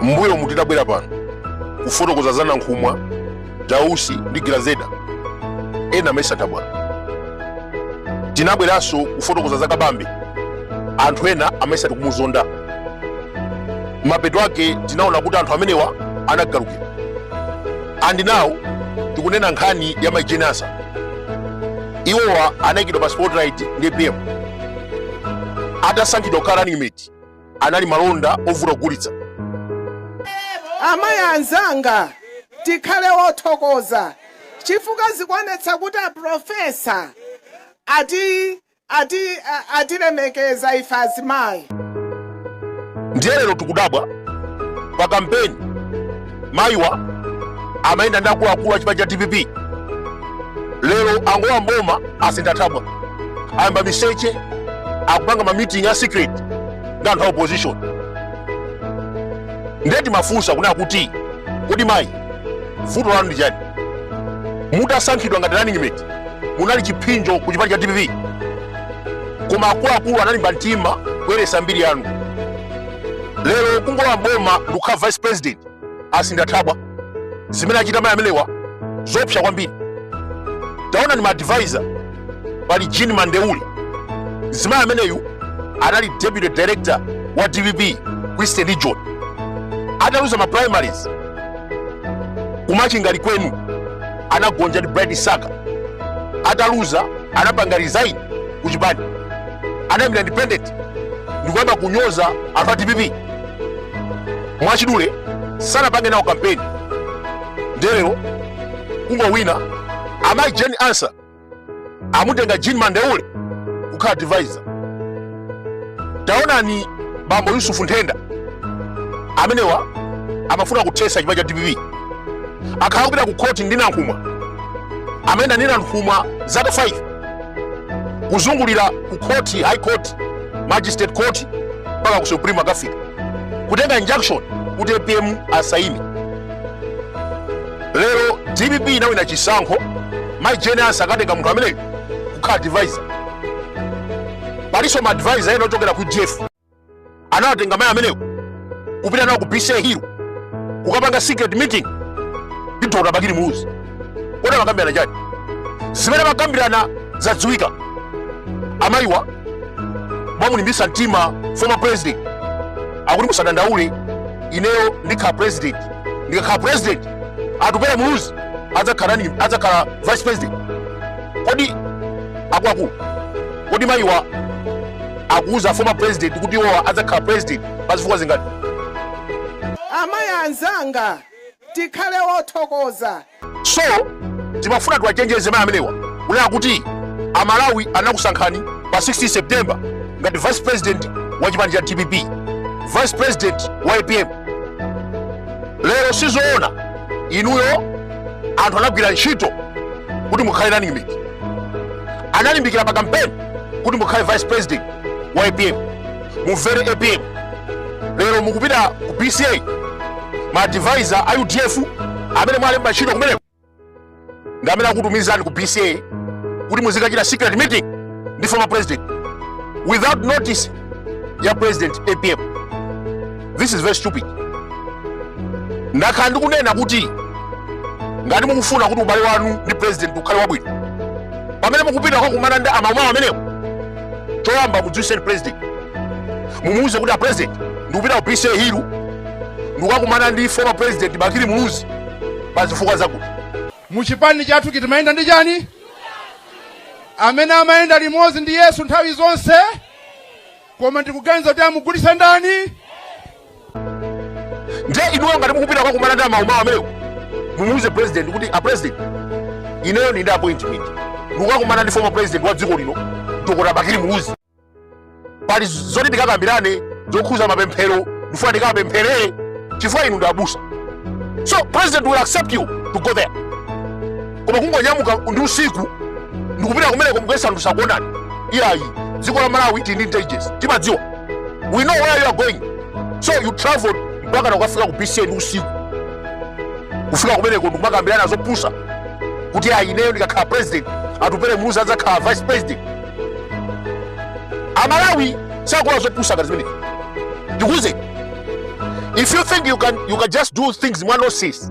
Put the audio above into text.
mbuyo mu tidabwera pano kufotokoza za nankhumwa dausi ndi grezelder ena amesa nthabwala tinabweranso kufotokoza za kabambe anthu ena amesa tikumuzonda mapeto ake tinaona kuti anthu amenewa anagalukira and now tikunena nkhani ya mai jane ansah iwowa anayikidwa pa spotlight ndi apm atasankhidwa kukhala running mate anali malonda ovuta kugulitsa amayi anzanga tikhale wothokoza chifukwa zikuonetsa kuti aprofesa atilemekeza ife azimayi ndiye lero tikudabwa pa kampeni mayiwa amayenda ndi akuluakulu a chipani cha dpp lero angolowa mboma asintha thabwa ayamba miseche akupanga ma meeting a secret ndi anthu a opposition nde timafunsa kunena kuti kodi mayi vuto lanu ndi chani mutasankhidwa ngati running mate munali chiphinjo ku chipani cha dpp koma akuluakulu analimba mtima kuyeresa mbiri yanu lero kungolowa mboma ndikukhala vice president asintha thabwa zimene achita mayi amenewa zopsa kwambiri taonani maadvisor pali jean mandeule mzimayi ameneyu anali deputy director wa dpp ku eastern region ataluza ma primaries ku machinga likwenu anagonja ndi bright msaka ataluza anapanga resign kuchipani anayimira independent ndikuyamba kunyoza anthu a dpp mwachidule sanapange nawo kampeni nde lero kungowina amayi jane ansah amutenga jean mandeule kukhala advisor taonani bambo yusufu nthenda amenewa amafuna kuthesa chipani cha dpp akhala kupita ku khoti ndi nankhumwa amayenda ndi nankhumwa zaka 5 kuzungulira ku court high court magistrate court mpaka ku supreme akafika kutenga injunction kuti apm asaime lero dpp inawina chisankho mai jane ansah akatenga munthu ameneyo kukhala advisor palinso ma advisor ena ochokera ku udf anawatenga mayi amenewo kupita nawo ku bca hill kukapanga secret meeting ndi dr bakili muluzi kodi amakambirana chani zimene amakambirana zadziwika amayiwa amamulimbisa mtima former president akuti musadandaule ineyo ndikhala president ndikakhala president atupere muluzi adzakhala adzakhala vice president kodi akuluakulu kodi mayiwa akuuza former president kuti iwowa adzakhala president pa zifukwa zingati? Amayi anzanga, tikhale othokoza. So timafuna tiwachenjeze mayi amenewa kunena kuti Amalawi anakusankhani pa 16 September ngati vice president wa chipani cha dpp, vice president wa apm. Lero sizoona inuyo, anthu anagwira ntchito kuti mukhale running mate, analimbikira pa kampeni kuti mukhale vice president wa apm mumvere apm lero mukupita ku bca ma advisor a udf amene mwalemba ntchito kumeneko ndi amene akutumizani ku bca kuti muzikachita secret meeting ndi former president without notice ya president apm this is very stupid ndakhala ndikunena kuti ngati mukufuna kuti ubale wanu ndi president ukhale wabwino pamene mukupita kukakumana ndi amaumawo ameneko choyamba mudziwitseni president mumuuze kuti a president ndikupita ku bca hill ndikukakumana ndi former president bakili muluzi pa zifukwa zakuti muchipani chathuchi timayenda ndi chani amene amayenda limodzi ndi yesu nthawi zonse koma ndikuganiza kuti amugulitsa ndani nde inuyo ngati mukupita kukakumana ndi amaumawo ameneko mumuuze president kuti a president ineyo ndi ndi appointment ndikukakumana ndi former president wa dziko lino dr bakili muluzi pali zoti tikakambirane zokhuza mapemphero ndifuna tikapemphere chifukwa inu ndi abusa so president will accept you to go there koma kungonyamuka ndi usiku ndikupita kumeneko mukuyesa anthu sakuonani iyayi dziko la malawi tili ndi intelligence timadziwa we know where you are going so you travel mpaka nakukafika ku bca ndi usiku kufika kumeneko ndikumakambirana zopusa kuti ayi ineyo ndikakhala president atupere muluzi adzakhala vice president amalawi sakula zopusa ngati zimenezi tikuuze if you think you can just do things mwa nonsense